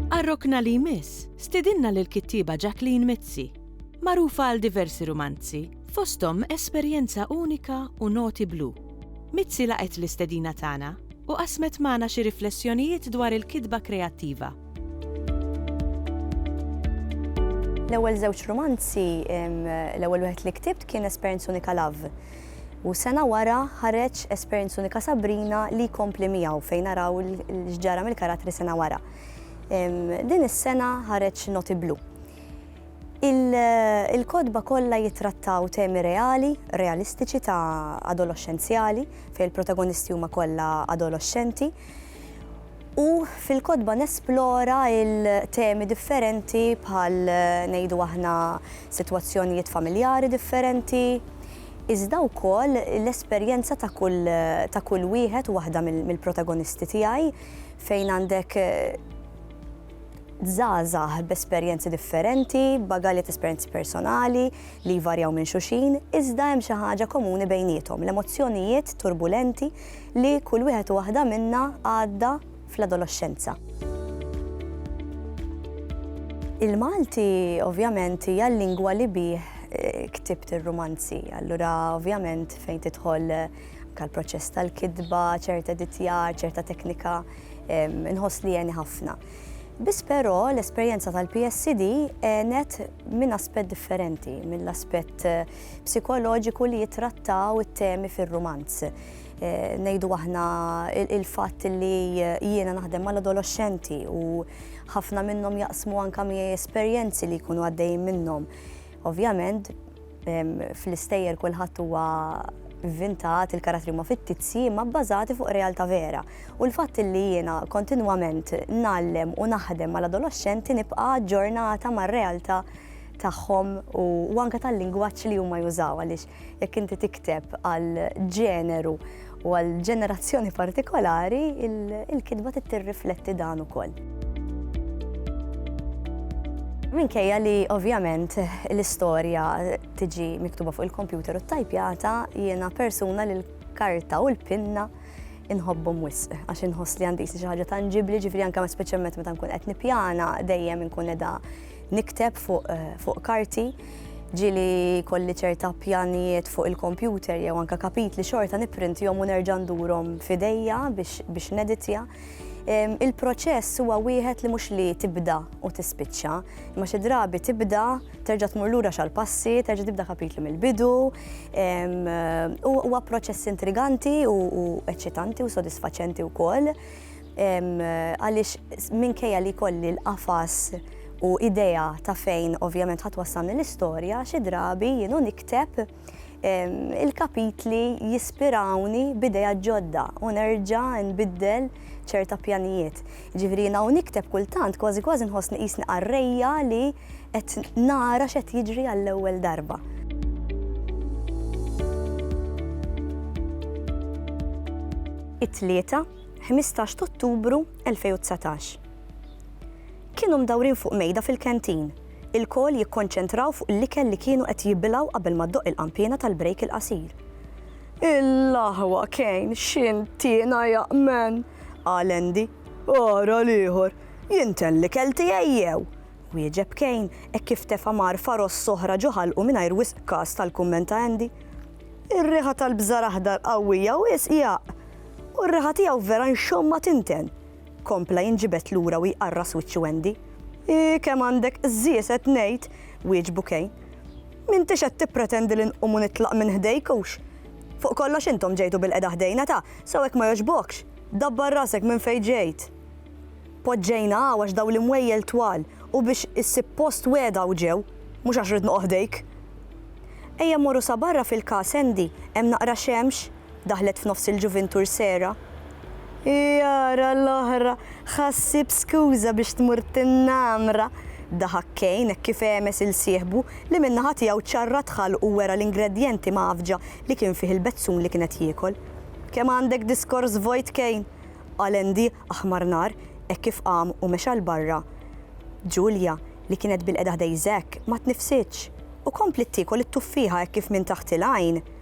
Għar-rokna li jmiss, stidinna lill-kittieba Jacqueline Mizzi, magħrufa għal diversi rumanzi, fosthom Esperjenza Unika u Noti Blu. Mizzi laqgħet l-istedina tagħna u qasmet magħna xi riflessjonijiet dwar il-kitba kreattiva. L-ewwel żewġ rumanzi, l-ewwel wieħed li ktibt kien Esperjenz Unika Love. U sena wara ħareġ Esperjenz Unika Sabrina li jkompli miegħu fejn naraw l-ġġara mill-karattri sena wara. Din is-sena ħareġ Noti Blu. Il-kotba kollha jittrattaw temi reali, realistiċi ta' adoloxxenzjali, fejn il-protagonisti huma kollha adoloxxenti, u fil-kotba nesplora il-temi differenti bħal ngħidu aħna sitwazzjonijiet familjari differenti, iżda wkoll l-esperjenza ta' kull ta' kull wieħed u waħda mill-protagonisti tiegħi fejn għandek Żgħażagħ b'esperjenzi differenti, b'bagalji ta' esperjenzi personali li jvarjaw minn xulxin, iżda hemm xi ħaġa komuni bejniethom, l-emozzjonijiet turbulenti li kull wieħed u waħda minna għadda fl-adoloxxenza. Il-Malti ovvjament hija l-lingwa li bih ktibt ir-rumanzi, allura ovvjament fejn tidħol anke l-proċess tal-kitba, ċert editjar, ċerta teknika, Inħoss li għeni ħafna. Biss però l-esperjenza tal-PSD għenet minn aspett differenti, mill-aspett psikoloġiku li jittrattaw it-temi fir-rumanz. Ngħidu aħna il-fatt li jiena naħdem mal-adoloxxenti u ħafna minnhom jaqsmu anke miegħi esperjenzi li jkunu għaddejjin minnhom. Ovvjament, Fl-istejjer kulħadd huwa vvintat, il-karattri huma fittizji imma bbażati fuq realtà vera. U l-fatt li jiena kontinwament ngħallem u naħdem mal-adoloxxenti nibqa' aġġornata mar-realtà tagħhom u anke tal-lingwaġġ li huma jużaw għaliex jekk inti tikteb għal ġeneru U għal ġenerazzjoni partikolari, il-kitba tirrifletti dan ukoll. Minkejja li ovvjament l-istorja tiġi miktuba fuq il-kompjuter u t-tajpjata, jiena persuna li l-karta u l-pinna inħobbhom wisq għax inħoss li għandi xi ħaġa tanġibli, ġifri anke speċjalment meta nkun qed nippjana dejjem inkun edha Nikteb fuq karti, ġieli jkolli ċerta pjanijiet fuq il-kompjuter jew anke kapitli xorta nipprintihom u nerġa' ndurhom f'idejja biex neditja. Il-proċess huwa wieħed li mhux li tibda u tispiċċa, imma xi drabi tibda, terġa' tmur lura xi għall-passi, terġa' tibda kapitlu mill-bidu. Huwa proċess intriganti u eċċitanti u sodisfaċenti wkoll. għaliex minkejja li kolli l-qafas u idea ta' fejn ovvjament ħat wassalni l-istorja, xi drabi jienu nikteb il-kapitli jispirawni b'ideja ġodda u nerġa' nbiddel ċerta pjanijiet. Ġifri jiena u nikteb kultant kważi kważi nħossni qisni qarrejja li qed nara x'qed jiġri għall-ewwel darba. It-tlieta 15 t'Ottubru 2019. Kienu mdawrin fuq mejda fil-canteen, ilkoll jikkonċentraw fuq l-ikel li kienu qed jibilgħu qabel ma ddoqq il-qanpiena tal-break il-qasir. Il-laħwa Kane x'intiena jaqmen! qal Andy. Ara l-ieħor! Jien ten l-ikel tiegħi jew? wieġeb Kane hekk kif tefa' marfa ross oħra ġo ħalqu mingħajr wisq kas tal-kumment ta' Andy. Ir-riħa tal-bżar aħdar qawwija wisq jaqq! U r-riħa tiegħu vera nxomma tinten! kompla jinġibed lura u jqarras wiċċu Andy. Ii kemm għandek qżież qed ngħid! wieġbu Kane. M'intix qed tippretendi li nqum u nitlaq minn ħdejk hux? Fuq kollox intom ġejtu bilqiegħda ħdejna ta! sew hekk ma jogħġbokx! Dabbar rasek minn fejn ġejt! Poġġejna hawn għax dawn l-imwejjel twal u biex issib post wegħda u ġew, mhux għax ridt noqgħod ħdejk! Ejja mmorru sa barra fil-każ Andy, hemm naqra xemx! Daħlet f'nofs il-ġuvintur Sera. Jara l-oħra, ħa ssib skuża biex tmur tinnamra! daħak Kane hekk kif għemes il sieħbu li min-naħa tiegħu ċarrat ħalqu u wera l-ingredjenti mgħaffġa li kien fih il-bezzun li kien qed jiekol. Kemm għandek diskors vojt Kane! qal Andy aħmar nar hekk kif qam u mexa 'l barra. Julia, li kienet bilqiegħda ħdej Zack, ma tniffsitx u kompliet tiekol it-tuffieħa hekk kif minn taħt il-għajn,